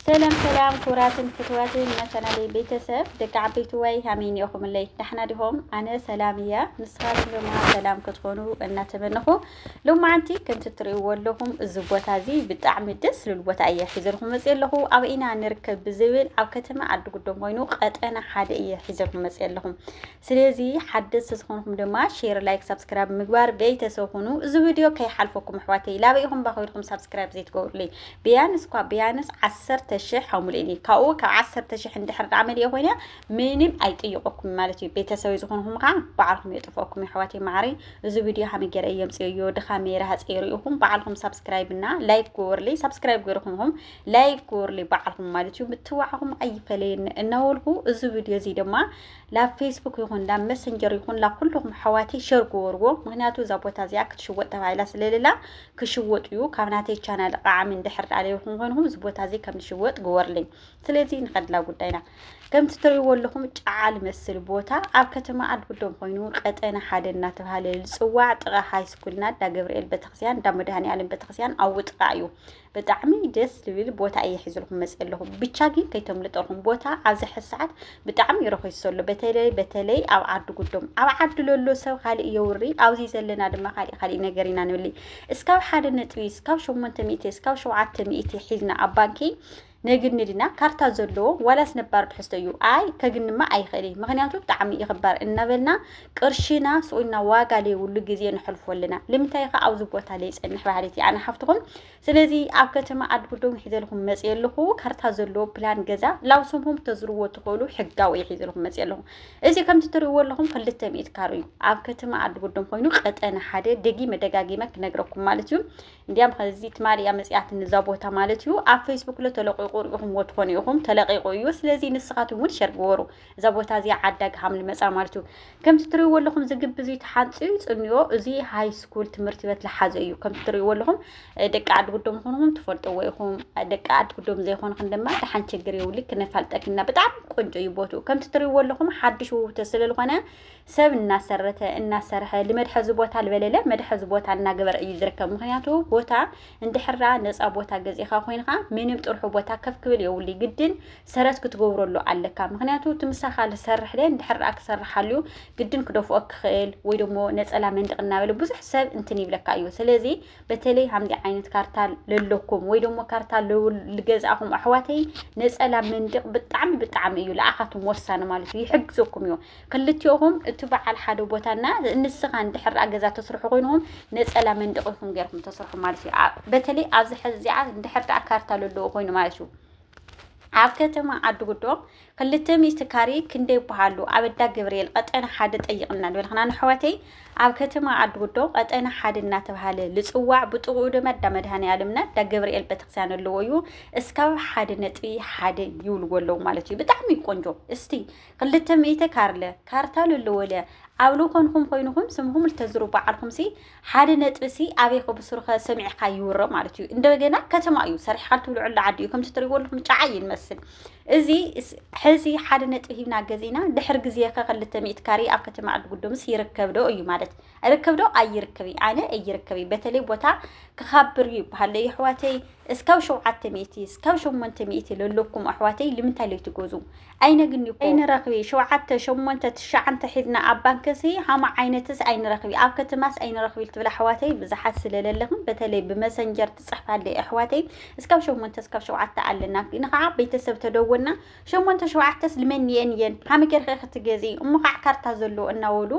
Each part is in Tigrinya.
ሰላም ሰላም ክቡራትን ፍትዋትን መተናለይ ቤተሰብ ደቂ ዓበይቲ ዋይ ሃመይ ኒኦኹምለይ ዳሕና ዲኹም ኣነ ሰላም እያ ንስኻትኩም ድማ ሰላም ክትኾኑ እናተመነኹ ሎማዓንቲ ከምቲ እትርእይዎ ኣለኹም እዚ ቦታ እዚ ብጣዕሚ ደስ ዝብል ቦታ እየ ሒዘልኩም መፅእ ኣለኹ ኣብ ኢና ንርከብ ብዝብል ኣብ ከተማ ዓዲ ጉዶም ኮይኑ ቀጠና ሓደ እየ ሒዘልኩም መፅእ ኣለኹም ስለዚ ሓደስቲ ዝኾንኩም ድማ ሼር ላይክ ሳብስክራይብ ምግባር ቤተሰብ ኩኑ እዚ ቪድዮ ከይሓልፈኩም ኣሕዋተይ ላበይ ኢኹም ባኾይድኩም ሳብስክራይብ ዘይትገብሩለይ ብያንስ እኳ ብያንስ ዓሰርተ ሽሕ ኣሙልእኒ ካብኡ ካብ ዓሰርተ ሽሕ እንድሕር ዳኣ መሊኦ ኮይነ ምንም ኣይጥይቆኩም ማለት እዩ ቤተሰብ ዝኾንኩም ከዓ በዓልኩም የጥፍኦኩም ኣሕዋተይ ማዕረይ እዚ ቪድዮ ሃመይ ገይረ እየምፅእዮ ድኻመይ ረሃፀይ ርኢኹም በዓልኩም ሳብስክራይብ እና ላይክ ግበሩለይ ሳብስክራይብ ገይርኹምኹም ላይክ ግበሩለይ በዓልኩም ማለት እዩ ምትዋዕኹም ኣይፈለየኒ እናወልኩ እዚ ቪድዮ እዚ ድማ ላብ ፌስቡክ ይኹን ላብ መሰንጀር ይኹን ላብ ኩልኹም ኣሕዋተይ ሸር ግበርዎ ምክንያቱ እዛ ቦታ እዚኣ ክትሽወጥ ተባሂላ ስለሌላ ክሽወጥ እዩ ካብ ናተይ ቻናል ቃዓሚ እንድሕር ዳኣ ለይኹም ኮይንኹም እዚ ቦታ እዚ ከም ዝሽወጥ ግበርለይ ስለዚ ንኸድላ ጉዳይና ከምቲ ትርእይዎ ኣለኹም ጫዓ ልመስል ቦታ ኣብ ከተማ ኣድጉዶም ኮይኑ ቀጠና ሓደ እናተባሃለ ዝፅዋዕ ጥቓ ሃይስኩልና እንዳ ገብርኤል ቤተክርስቲያን እንዳ መድሃኔ ዓለም ቤተክርስቲያን ኣብኡ ጥቓ እዩ ብጣዕሚ ደስ ዝብል ቦታ እየ ሒዝልኩም መፅ ኣለኹ ብቻ ግን ከይተምልጠኹም ቦታ ኣብዚ ሕዚ ሰዓት ብጣዕሚ እዩ ረኺሱ ኣሎ በተለይ በተለይ ኣብ ዓዲ ጉዶም ኣብ ዓዲ ለሎ ሰብ ካሊእ የውሪ ኣብዚ ዘለና ድማ ካሊእ ካሊእ ነገር ኢና ንብሊ እስካብ ሓደ ነጥቢ እስካብ ሸሞንተ ሚእቲ እስካብ ሸውዓተ ሚእቲ ሒዝና ኣብ ባንኪ ነግኒ ድና ካርታ ዘለዎ ዋላስ ነባር ትሕዝቶ እዩ ኣይ ከግንማ ኣይኽእል እዩ ምክንያቱ ብጣዕሚ እዩ ክባር እናበልና ቅርሽና ስቁልና ዋጋ ለይብሉ ግዜ ነሕልፎ ኣለና ልምንታይ ከ ኣብዚ ቦታ ለይፀንሕ በሃሊት እየ ኣነ ሓፍትኹም ስለዚ ኣብ ከተማ ዓዲ ጉዶም ሒዘልኩም መፅእ ኣለኹ ካርታ ዘለዎ ፕላን ገዛ ላብ ስምኩም ተዝርዎ ትኽእሉ ሕጋዊ እዩ ሒዘልኩም መፅእ ኣለኹ እዚ ከምቲ ትርእዎ ኣለኹም ክልተ ሚእት ካሮ እዩ ኣብ ከተማ ዓዲ ጉዶም ኮይኑ ቀጠነ ሓደ ደጊመ ደጋጊመ ክነግረኩም ማለት እዩ እንዲያም ከዚ ትማሊ እያ መጽያትኒ እዛ ቦታ ማለት እዩ ኣብ ፌስቡክ ለ ተለቂቑ ርኢኹምዎ ትኾኑ ኢኹም ተለቂቑ እዩ ስለዚ ንስኻትኩም እውን ሸር ግበሩ እዛ ቦታ እዚኣ ዓዳ ግሃም ልመጻ ማለት እዩ ከምቲ ትርእይዎ ኣለኹም እዚ ግቢ እዚ ተሓንፅዩ ፅንዮ እዚ ሃይ ስኩል ትምህርቲ ቤት ልሓዘ እዩ ከምቲ ትርእይዎ ኣለኹም ደቂ ዓዲ ጉዶም ኹንኹም ትፈልጥዎ ኢኹም ደቂ ዓዲ ጉዶም ዘይኮንኹም ድማ ድሓን ችግር የብሉ ክነፋልጠክና ብጣዕሚ ቆንጆ እዩ ቦትኡ ከምቲ ትርእይዎ ኣለኹም ሓድሽ ውውተ ስለዝኾነ ሰብ እናሰረተ እናሰርሐ ልመድሐዚ ቦታ ልበለለ መድሐዚ ቦታ እናገበረ እዩ ዝርከብ ምክንያቱ ቦታ እንድሕራ ነፃ ቦታ ገዚእካ ኮይንካ ምንም ጥርሑ ቦታ ከፍ ክብል የብሉ ግድን ሰረት ክትገብረሉ ኣለካ ምክንያቱ እቲ ምሳካ ዝሰርሕ ደ እንድሕራ ክሰርሕ ኣልዩ ግድን ክደፍኦ ክኽእል ወይ ደሞ ነፀላ መንድቅ እናበለ ብዙሕ ሰብ እንትን ይብለካ እዩ ስለዚ በተለይ ሃምዚ ዓይነት ካርታ ለለኩም ወይ ደሞ ካርታ ልገዛእኹም ኣሕዋተይ ነፀላ መንዲቕ ብጣዕሚ ብጣዕሚ እዩ ለኣኻቱም ወሳኒ ማለት እዩ ይሕግዘኩም እዩ ክልቲኦኹም እቲ በዓል ሓደ ቦታና ንስኻ እንድሕር ገዛ ተስርሑ ኮይንኹም ነፀላ መንዲቕ ይኹም ገይርኩም ተስርሑ ማለት እዩ በተለይ ኣብዚ ሕዚ እዚኣ እንድሕር ደኣ ካርታ ለለዎ ኮይኑ ማለት እዩ ኣብ ከተማ ዓድጉዶ ክልተ ሚእቲ ካሬ ክንደይ ይበሃሉ ኣብ ኣዳ ገብርኤል ቀጠና ሓደ ጠይቕና ንበልኽና ንሕዋተይ ኣብ ከተማ ዓድጉዶ ቀጠና ሓደ እናተባሃለ ልፅዋዕ ብጥቕኡ ድማ ኣዳ መድሃኒ ኣለምና ኣዳ ገብርኤል ቤተክርስቲያን ኣለዎ እዩ እስካብ ሓደ ነጥቢ ሓደ ይብልዎ ኣለዉ ማለት እዩ ብጣዕሚ ቆንጆ እስቲ ክልተ ሚእቲ ካርለ ካርታ ለለወለ ኣብ ልኾንኹም ኮይንኹም ስምኹም ልተዝሩ በዓልኹም ሲ ሓደ ነጥቢ ሲ ኣበይ ከብስሩኸ ሰሚዕኻ ይውረ ማለት እዩ እንደገና ከተማ እዩ ሰሪሕካ ትብልዐሉ ዓዲ እዩ ከምቲ ትሪእዎ ኣለኹም ጫዓ እዩ ንመስል እዚ ሕዚ ሓደ ነጥቢ ሂብና ገዚእና ድሕር ግዜ ከ ክልተ ሚእቲ ካሬ ኣብ ከተማ ዓዲ ጉዶምስ ይርከብ ዶ እዩ ማለት ርከብ ዶ ኣይርከብ እዩ ኣነ እይርከብ እዩ በተለይ ቦታ ክኻብር እዩ ይበሃለ እዩ ኣሕዋተይ እስካብ ሸውዓተ ሚእቲ እስካብ ሸሞንተ ሚእቲ ለለኩም ኣሕዋተይ ልምንታይ ለይትገዙ ኣይነግኒ እኮ ኣይንረክቢ ሸውዓተ ሸሞንተ ትሽዓንተ ሒዝና ኣብ ባንክሲ ሃማ ዓይነትስ ኣይንረክቢ ኣብ ከትማስ ኣይንረክቢ ትብል ኣሕዋተይ ብዝሓት ስለ ለለክን በተለይ ብመሰንጀር ትጽሕፋለይ ኣሕዋተይ እስካብ ሸሞንተ እስካብ ሸውዓተ ኣለና ንካዓ ቤተሰብ ተደወልና ሸሞንተ ሸውዓተስ ልመንየን እየን ሃመ ጌርኪ ክትገዚ እሞ ካዓ ካርታ ዘሎ እናወሉ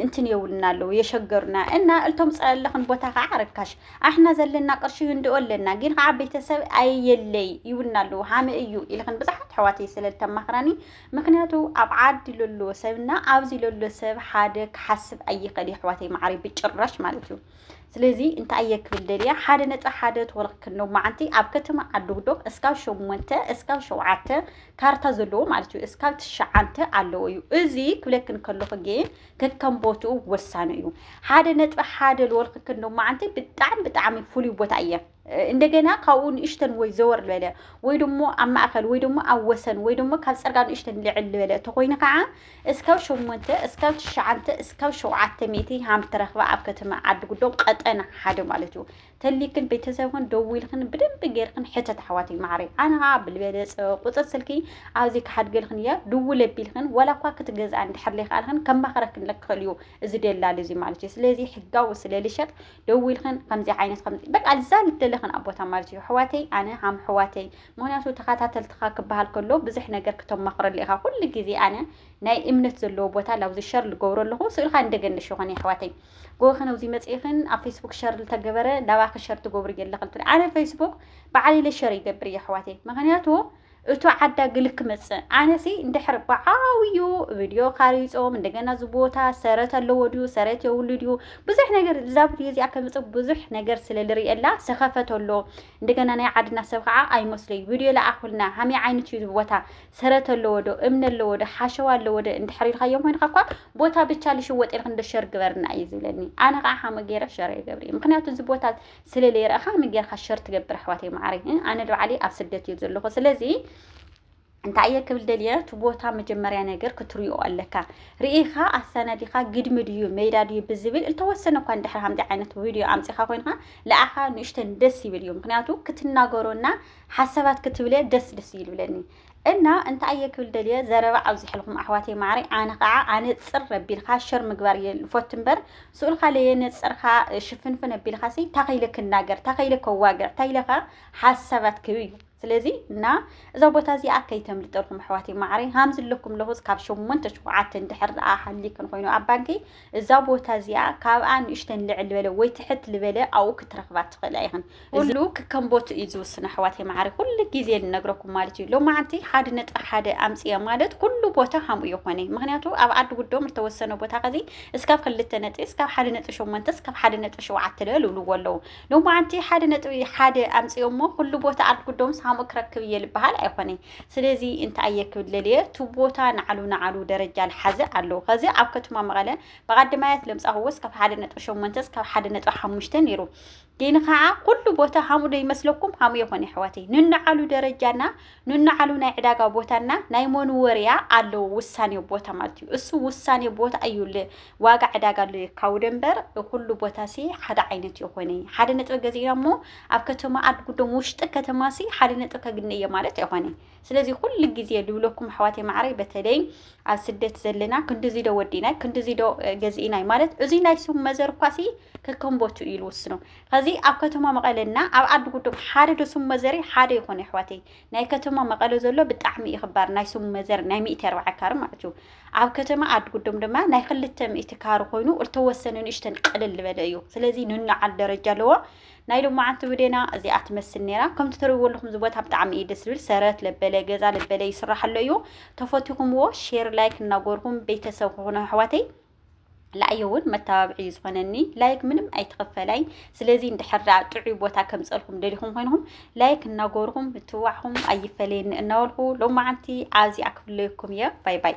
እንትን የውልና ኣለዉ የሸገሩና እና እልቶም ጸለኽን ቦታ ከዓ ርካሽ ኣሕና ዘለና ቅርሺ ህንድኦ ኣለና ግን ከዓ ቤተሰብ ኣየለይ ይውልና ኣለዉ ሓመ እዩ ኢልኽን ብዙሓት ሕዋተይ ስለ ዝተማኽራኒ ምክንያቱ ኣብ ዓዲ ለሎ ሰብና ኣብዚ ለሎ ሰብ ሓደ ክሓስብ ኣይኽእል የሕዋተይ ማዓሪ ብጭራሽ ማለት እዩ ስለዚ እንታይ እየ ክብል ደልያ ሓደ ነፃ ሓደ ተወልክክ ነው መዓንቲ ኣብ ከተማ ዓዱግዶም እስካብ ሸሞንተ እስካብ ሸውዓተ ካርታ ዘለዎ ማለት እዩ እስካብ ትሸዓንተ ኣለዎ እዩ እዚ ክብለክን ከለኹ ግን ከከም ቦትኡ ወሳኑ እዩ ሓደ ነጥቢ ሓደ ዝወልክክ ነው መዓንቲ ብጣዕሚ ብጣዕሚ ፍሉይ ቦታ እየ እንደገና ካብኡ ንእሽተን ወይ ዘወር ዝበለ ወይ ደሞ ኣብ ማእከል ወይ ደሞ ኣብ ወሰን ወይ ደሞ ካብ ጽርጋ ንእሽተን ልዕል ዝበለ ተኾይኑ ከዓ እስካብ ሸሞንተ እስካብ ትሽዓንተ እስካብ ሸውዓተ ሚእቲ ሃም ትረኽባ ኣብ ከተማ ዓዲ ጉዶ ቀጠና ሓደ ማለት እዩ ተሊክን ቤተሰብክን ደዊልክን ብደንብ ጌርክን ሕተት ኣሕዋተይ ማዕረይ ኣነ ከዓ ብልበለጸ ቁጽር ስልኪ ኣብዚ ክሓድገልክን እያ ድውል ኣቢልክን ዋላ እኳ ክትገዝኣ እንድሕር ዘይከኣልክን ከማኽረክን ለክኽእል እዩ እዚ ደላል እዚ ማለት እዩ ስለዚ ሕጋዊ ስለልሸጥ ደው ኢልክን ከምዚ ዓይነት ከም በቃ እዛ ልደለኽን ኣብ ቦታ ማለት እዩ ኣሕዋተይ ኣነ ሃም ኣሕዋተይ ምክንያቱ ተኸታተልትኻ ክበሃል ከሎ ብዙሕ ነገር ክተማኽረሉ ኢኻ ኩሉ ግዜ ኣነ ናይ እምነት ዘለዎ ቦታ ላብዚ ሸር ልገብሮ ኣለኹ ስእልካ እንደገን ልሽኾን ኣሕዋተይ ጎበኽን ኣብዚ መፅኢኽን ኣብ ፌስቡክ ሸር ልተገበረ ላባኺ ሸር ትገብሩ የለኽን ኣነ ፌስቡክ በዓል ኢለ ሸር ይገብር እዩ ኣሕዋተይ ምክንያቱ እቱ ዓዳግል ክመፅእ ኣነሲ እንድሕር ብዓብዩ ቪድዮ ካሪፆም እንደገና እዚ ቦታ ሰረት ኣለዎ ድዩ ሰረት የብሉ ድዩ ብዙሕ ነገር እዛ ቪድዮ እዚኣ ከምፅእ ብዙሕ ነገር ስለ ዝርእየላ ሰኸፈት ኣሎ እንደገና ናይ ዓድና ሰብ ከዓ ኣይመስለይ ቪድዮ ለኣኹልና ሃመይ ዓይነት እዩ ቦታ ሰረት ኣለዎ ዶ እምኒ ኣለዎ ዶ ሓሸዋ ኣለዎ ዶ እንድሕር ኢልካዮም ኮይንካ እኳ ቦታ ብቻ ልሽወጥ ኢልክ እንዶ ሸር ግበርና እዩ ዝብለኒ ኣነ ከዓ ሓመ ገይረ ሸር ይገብር እዩ ምክንያቱ እዚ ቦታ ስለ ለይረኣኻ ከመይ ጌርካ ሸር ትገብር ኣሕዋተይ መዓረይ እ ኣነ ባዕለይ ኣብ ስደት እየ ዘለኹ ስለዚ እንታይ እየ ክብል ደልየ እቲ ቦታ መጀመርያ ነገር ክትሪኦ ኣለካ ርኢኻ ኣሰናዲኻ ግድሚ ድዩ ሜዳ ድዩ ብዝብል እተወሰነ እኳ እንድሕር ከምዚ ዓይነት ቪድዮ ኣምፂኻ ኮይንካ ልኣኻ ንእሽተን ደስ ይብል እዩ ምክንያቱ ክትናገሮና ሓሳባት ክትብለ ደስ ደስ ይብለኒ እና እንታይ ኣየ ክብል ደልየ ዘረባ ኣብዚሕልኩም ኣሕዋተይ ማዕረይ ኣነ ከዓ ኣነፅር ኣቢልካ ሸር ምግባር እየ ልፎት እምበር ስኡልካ ለየነፅርካ ሽፍንፍን ኣቢልካ ሲ ታኸይለ ክናገር ታኸይለ ከዋግዕ ታይለካ ሓሳባት ክብ እዩ ስለዚ እና እዛ ቦታ እዚኣ ከይተምልጠልኩም ኣሕዋተይ ማዕረይ ሃምዚ ኣለኩም ለኹስ ካብ ሸሞንተ ሽኩዓተ እንድሕር ደኣ ሃሊክን ኮይኑ ኣብ ባንኪ እዛ ቦታ እዚኣ ካብኣ ንእሽተን ልዕል ዝበለ ወይ ትሕት ዝበለ ኣብኡ ክትረኽባ ትኽእላ ኢኽን። ኩሉ ክከም ቦትኡ እዩ ዝውስን ኣሕዋተይ መዓሪ ኩሉ ግዜ ንነግረኩም ማለት እዩ። ሎማዓንቲ ሓደ ነጥቢ ሓደ ኣምፅኤ ማለት ኩሉ ቦታ ከምኡ ይኾነ። ምክንያቱ ኣብ ዓዲ ጉዶም ዝተወሰነ ቦታ ከዚ እስካብ ክልተ ነጥቢ እስካብ ሓደ ነጥቢ ሸሞንተ እስካብ ሓደ ነጥቢ ሸውዓተ ልበል ይብልዎ ኣለዉ። ሎማዓንቲ ሓደ ነጥቢ ሓደ ኣምፅኦሞ ኩሉ ቦታ ዓዲ ጉዶምስ ከምኡ ክረክብ እየ ዝበሃል ኣይኾነይ። ስለዚ እንተኣየ ክብል ደልየ እቲ ቦታ ንዓሉ ንዓሉ ደረጃ ልሓዘ ኣለዉ ከዚ ኣብ ከተማ መቐለ ብቐድማያት ለምፃ ክወፅ ካብ ሓደ ነጥቢ ሸሞንተ እስካብ ሓደ ነጥቢ ሓሙሽተ ነይሩ ግን ከዓ ኩሉ ቦታ ሃሙ ዶ ይመስለኩም ሃሙ የኾነ ኣሕዋተይ ንንዓሉ ደረጃና ንንዓሉ ናይ ዕዳጋ ቦታና ናይ መንወርያ ኣለዎ ውሳኔ ቦታ ማለት እዩ እሱ ውሳኔ ቦታ እዩ ዋጋ ዕዳጋ ኣሎ የካውደ እምበር ኩሉ ቦታ ሲ ሓደ ዓይነት የኾነ ሓደ ነጥቢ ገዚእና እሞ ኣብ ከተማ ዓድጉዶም ውሽጢ ከተማሲ ሓደ ነጥብ ከግነየ ማለት ኣይኮነ ስለዚ ኩሉ ግዜ ልብለኩም ኣሕዋተይ ማዕረይ በተለይ ኣብ ስደት ዘለና ክንዲዚ ዶ ወዲናይ ክንዲዚ ዶ ገዚእናይ ማለት እዚ ናይ ስም መዘር እኳሲ ከከምቦቱ እዩ ልውስኖ ከዚ ኣብ ከተማ መቐለና ኣብ ዓዲ ጉዶም ሓደ ዶ ስም መዘሪ ሓደ ይኾነ ኣሕዋተይ ናይ ከተማ መቐለ ዘሎ ብጣዕሚ እዩ ክባር ናይ ስም መዘር ናይ ሚእቲ ኣርባዓ ካር ማለት እዩ ኣብ ከተማ ዓዲ ጉዶም ድማ ናይ ክልተ ሚእቲ ካር ኮይኑ እተወሰነ ንእሽተን ቀልል ዝበለ እዩ ስለዚ ንናዓል ደረጃ ኣለዎ ናይ ሎማዓንቲ ውዴና እዚኣ ትመስል ነይራ ከምቲ ትሪእዎ ኣለኹም እዚ ቦታ ብጣዕሚ እዩ ደስ ዝብል ሰረት ለበለ ገዛ ለበለ ይስራሕ ኣሎ እዩ ተፈቲኹምዎ ሼር ላይክ እናጎርኩም ቤተሰብ ክኾኑ ኣሕዋተይ ላእየ እውን መተባብዒ እዩ ዝኾነኒ ላይክ ምንም ኣይትኽፈላይ ስለዚ እንድሕር ደኣ ጥዑይ ቦታ ከምፀልኩም ደሊኹም ኮይንኹም ላይክ እናጎርኹም ምትዋዕኹም ኣይፈለየኒ እናበልኩ ሎማዓንቲ ኣብዚኣ ክፍለየኩም እየ ባይ ባይ